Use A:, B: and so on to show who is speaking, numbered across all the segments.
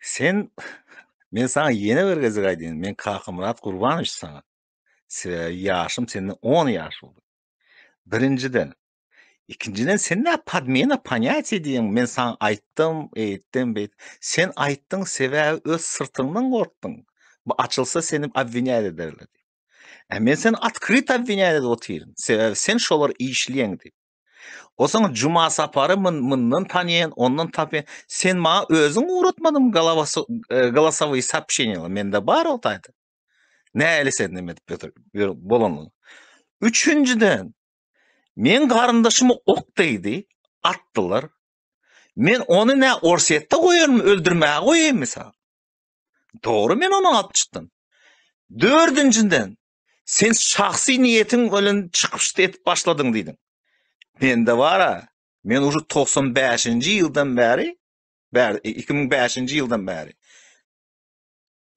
A: Sen Men saňa ýene bir gezek aýdýan, men Kakamyrat Gurbanowiç saňa. Sebäbi ýaşym senden on ýaş uly. Birinjiden. Ikinjiden sen näme podmena ponýatiýa diýýäň, men saňa aýtdym, eýtdim, beýt. Sen aýtdyň, sebäbi öz syrtyňdan gorkdyň. Bu açylsa seni obwinýat ederler diýip. Ä men seni otkryto obwinýat edip otyryn, sebäbi sen şolary işleýäň diýip. Osaň Juma Sapary mundan tanýan, ondan tapýan. Sen maňa özüň ugratmadyň galawasy galasowy sapşenýa, mende bar o taýda. Näli sen näme edip ýötür, ýör bolanyň. Üçünjiden, men garyndaşymy ok degdi, atdylar. Men ony nä Orsýetde goýarmy, öldürmäge goýaýmy sa? Dogry men ony alyp çykdym. Dördünjiden, Sen şahsy niýetiň bilen çykyş edip başladyň diýdiň. Mende bara, men uşu 95-nji ýyldan bäri, bäri 2005-nji e, ýyldan bäri.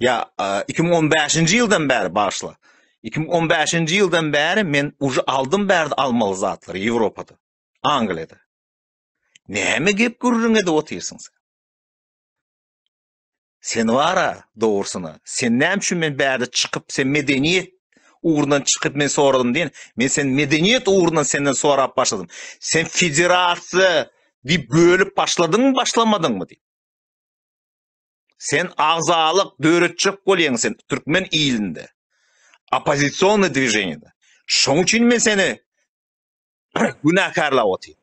A: Ýa 2015-nji ýyldan bäri başla. 2015-nji ýyldan bäri men uşu aldym bärde almaly zatlary Ýewropada, Angliýada. Näme gep gürrüň edip otyrsyň sen? Sen bar-a, dogrusyna, sen näme üçin men bärde çykyp, sen medeniýet ugrundan çykyp men soradym diýen, men sen medeniýet ugrundan senden sorap başladym. Sen federasiýa diýip bölüp başladyňmy, başlamadyňmy diýip. Sen agzalyk döretjek bolýaň sen türkmen ilinde. Oppozisionny dwiženýede. Şoň üçin men seni günäkärläp otyryn.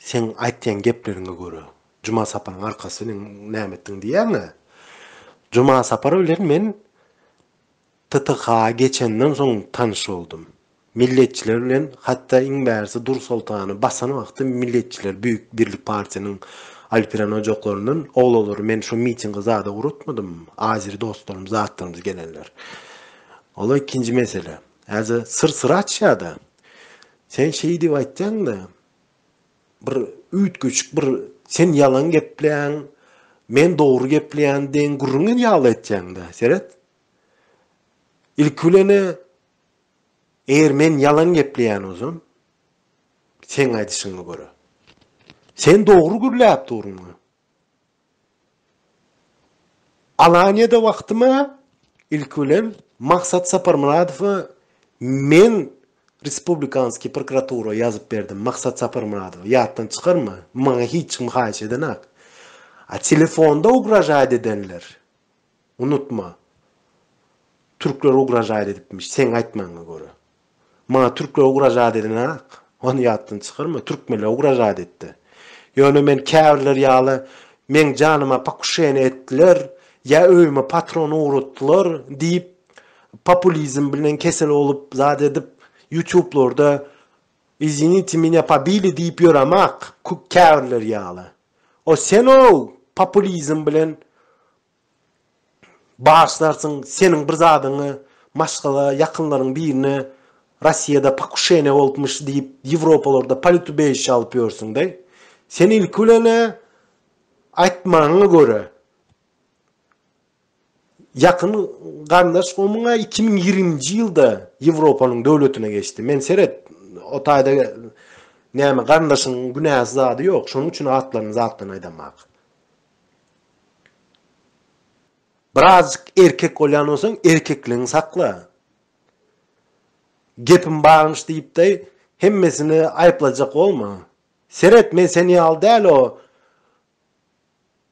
B: Seň aýtýan gepleriňe görä, Juma Saparyň arkasy meň näme etdiň diýýäň-ä? Juma Sapar bilen men TTH-a geçenden soň tanyş boldum. Milletçiler bilen hatda iň bärisi Dursoltany basan wagty Milletçiler Büýük Birlik partiýanyň Alperen ojaklaryndan oglalary men şu mitingi zada uratmadym, azeri dostlarymyz, zatlarymyz gelenler. Ol ikinji mesele. Häzir syr syry açýa-da. Sen şeý diýip aýtýaň-da, bir üýtgeşik bir sen ýalan gepleýäň, men dogry gepleýän deň gürrüň ýaly etýäň-da, seret. Ilki bilen-ä, eger men ýalan gepleýän bolsam, seň aýdyşyňa görä, sen dogry gürläp duruň-a. Alanyýada wagtyma ilki bilen Maksat Saparmyradowa men Respublikanskiý prokuratura ýazyp berdim, Maksat Saparmyradowa, ýatdan çykarma, maňa hiç kim haýyş edenak. A telefonda ugražaýt edenler, Unutma. Türkler ugražaýt edipmiş, seň aýtmagyňa görä. Maňa türkler ugražaýt edenok. Ony ýatdan çykarma. Türkmenler ugražaýt etdi. Ýöne men käbirler ýaly meň janyma pokuşeniýe etdiler, ýa öýüme patron ugratdylar diýip populizm bilen kesel bolup zat edip ýutublarda izinitie menya pobili diýip ýöremok, käbirler ýaly. O sen-ow populizm bilen başlarsyň, seniň bir zadyňy Maşgala ýakynlaryň birine Rossiýada pokuşeniýa bolupmyş diýip Ýewropalarda politubeýişe alyp ýörsüň-de. Sen ilki bilen-ä aýtmaňa görä. Ýakyn garyndaş gomuň-a iki müň ýigriminji ýylda Ýewropanyň döwletine geçdi. Men seret, o taýda näme garyndaşyň günäsi zady ýok. Şonuň üçin atlaryny zatdan aýdamak. Birazjyk erkek bolýan bolsaň, erkekligiňi sakla. Gepim barmyş diýipdeý, hemmesini aýyplajak bolma. Seret, men sen ýaly däl o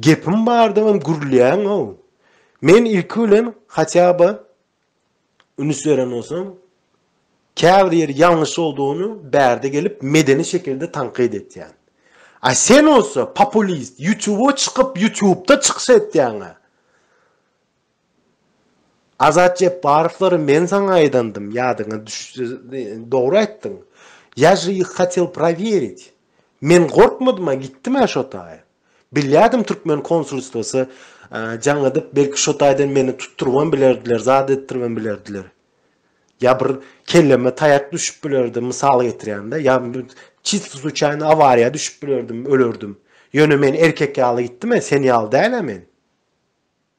B: Gepim bardybam gürlýäňow. Men ilki bilen hatýaba ünüs beren bolsam, käbir ýeri ýalňyş boldugyny bärde gelip medeni şekilde tankyt etýän. A sen bolsa populist, ýutuba çykyp ýutubda çykyş etýäňä. Azat Jepbarowlary men saňa aýdandym, ýadyňa düşse, dogry aýtdyň. Ýa je ih hatel prowerit. Men gorkmadym-a, gitdim-ä şo taýa. Bilýärdim türkmen konsulstwasy jaň edip, belki şo taýdan meni tutdurybam bilerdiler, zat etdiribem bilerdiler. Ýa bir kelleme taýak düşüp bilerdi, mysal getirýän-dä, ýa çist sluçaýny awariýa düşüp bilerdim, ölerdim. Ýöne men erkek ýaly gitdim-ä, sen ýaly däl-ä men.